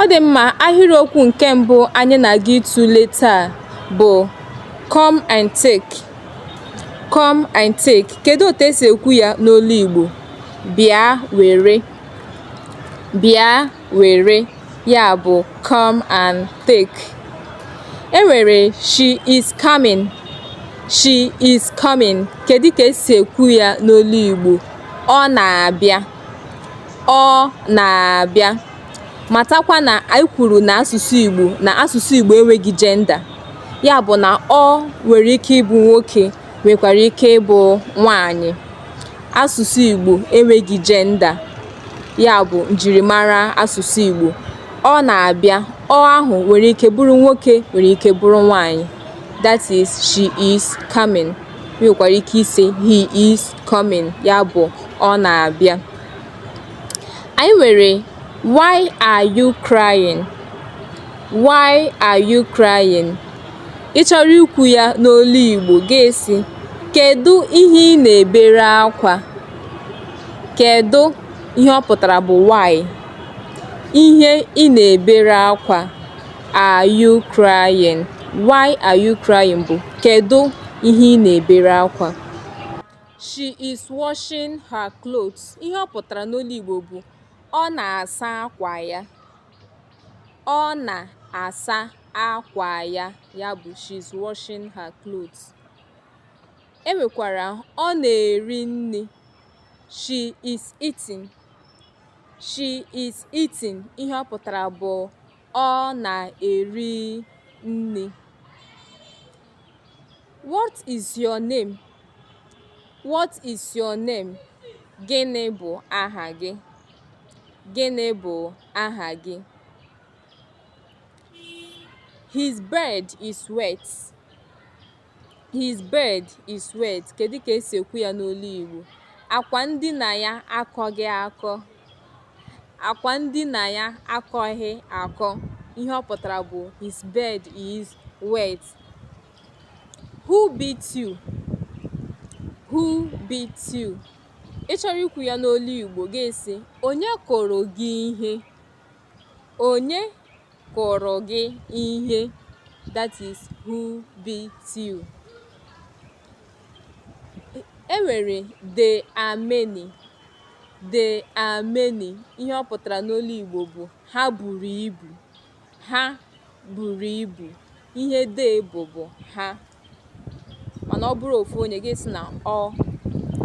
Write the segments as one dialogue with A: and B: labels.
A: Ọ dị mma, ahịrịokwu nke mbụ anyị na-aga ịtụle taa bụ come and take. Come and take. Kedu otu esi ekwu ya n'olu Igbo? Bịa were. Bịa were. Ya bụ come and take. E nwere she is coming. She is coming. Kedu ka esi ekwu ya n'olu Igbo? Ọ na-abịa. ọ na-abịa. Matakwa na anyị kwuru na asụsụ Igbo na asụsụ Igbo enweghị gender. Ya bụ na ọ nwere ike ịbụ nwoke nwekwara ike ịbụ nwaanyị. Asụsụ Igbo enweghị gender. Ya bụ njirimara asụsụ Igbo. Ọ na-abịa. Ọ ahụ nwere ike bụrụ nwoke nwere ike bụrụ nwaanyị. That is, she is coming. nwekwara ike ịsị he is coming ya bụ ọ na-abịa anyị nwere why are you crying why are you crying ị chọrọ ikwu ya n'olu Igbo ga-asị kedu ihe ị na-ebere akwa kedu ihe ọ pụtara bụ why ihe ị na-ebere akwa are you crying why are you crying bụ kedu ihe ị na-ebere akwa she is washing her clothes ihe ọ pụtara n'olu Igbo bụ ọ na-asa akwa ya ọ na-asa akwa ya ya bụ she is washing her clothes e nwekwara ọ na-eri nri she is eating she is eating ihe ọ pụtara bụ ọ na-eri nri What is your name? What is your name? Gịnị bụ aha gị? Gịnị bụ aha gị? His bed is wet. His bed is wet. Kedu ka esi ekwu ya n'olu Igbo? Akwa ndina ya akọghị akọ. akwa ndina ya akọghị akọ ihe ọ pụtara bụ his bed is wet who beat you who beat you ị chọrọ ikwu ya n'olu igbo ga-asị onye kụrụ gị ihe onye kụrụ gị ihe that is who beat you e nwere they are many they are many ihe ọ pụtara n'olu Igbo bụ ha buru ibu ha buru ibu ihe they bụ bụ ha mana ọ bụrụ ofu onye gị asị na ọ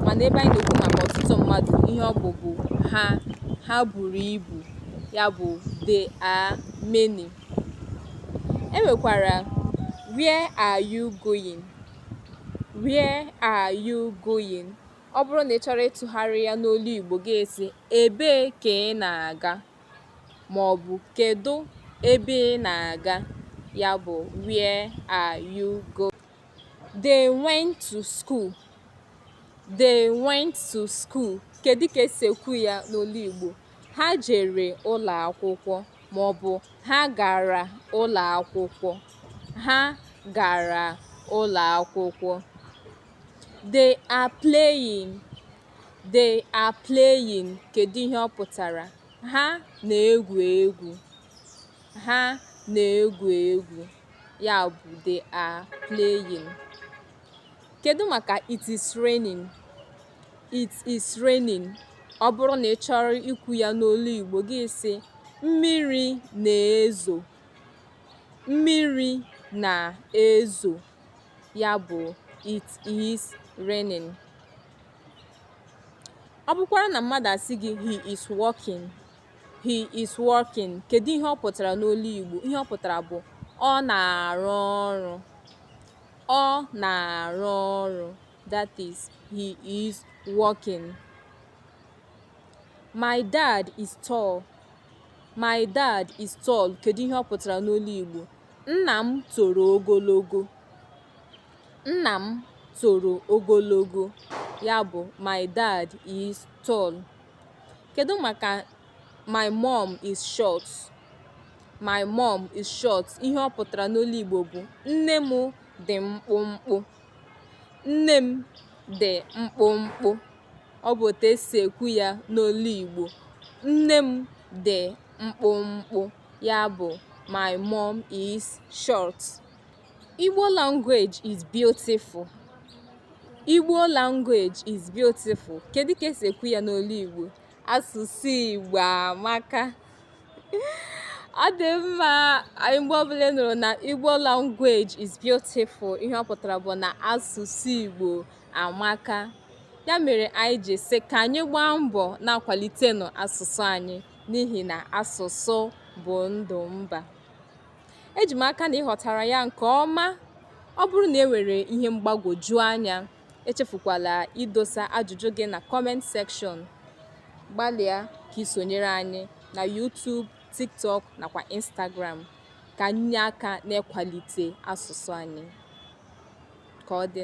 A: mana ebe anyị na-ekwu maka ọtụtụ mmadụ ihe ọ bụ bụ ha ha buru ibu ya bụ they are many e nwekwara where are you going where are you going ọ bụrụ na ị chọrọ ịtụgharị ya n'olu Igbo gị asị ebee ka ị na-aga ma ọ bụ kedu ebe ị na-aga ya bụ where are you going they went to school they went to school kedu ka esi ekwu ya n'olu Igbo ha jere ụlọ akwụkwọ maọbụ ha gara ụlọ akwụkwọ ha gara ụlọ akwụkwọ they are playing they are playing kedu ihe ọ pụtara ha na-egwu egwu ha na-egwu egwu ya bụ they are playing kedu maka it is raining It is raining. Ọ bụrụ na ị chọrọ ikwu ya n'olu Igbo gị sị mmiri na-ezo mmiri na-ezo ya bụ it is raining. Ọ bụkwara na mmadụ asị gị he is working he is working kedu ihe ọ pụtara n'olu Igbo ihe ọ pụtara bụ ọ na-arụ ọrụ ọ na-arụ ọrụ That is, he is working. My dad is tall. My dad is tall. Kedu ihe ọ pụtara n'olu Igbo? Nna m toro ogologo. Nna m toro ogologo. Ya bụ, my dad is tall. Kedu maka my mom is short? My mom is short. Ihe ọ pụtara n'olu Igbo bụ nne m dị mkpụmkpụ. Nne m dị mkpụmkpụ. Ọ bụ otu esi ekwu ya n'olu Igbo. Nne m dị mkpụmkpụ. Ya bụ my mom is short. Igbo language is beautiful. Igbo language is beautiful. Kedu ka esi ekwu ya n'olu Igbo? Asụsụ Igbo amaka. ọ dị mma anyị mgbe ọbụla ị nụrụ na igbo language is beautiful ihe ọ pụtara bụ na asụsụ igbo amaka ya mere anyị ji sị ka anyị gbaa mbọ na-akwalitenụ asụsụ anyị n'ihi na asụsụ bụ ndụ mba eji m aka na ị ghọtara ya nke ọma ọ bụrụ na e nwere ihe mgbagwoju anya Echefukwala idosa ajụjụ gị na comment section. Gbalịa ka i sonyere anyị na YouTube, TikTok nakwa Instagram ka anyị nye aka n'ịkwalite asụsụ anyị. Ka ọ dị.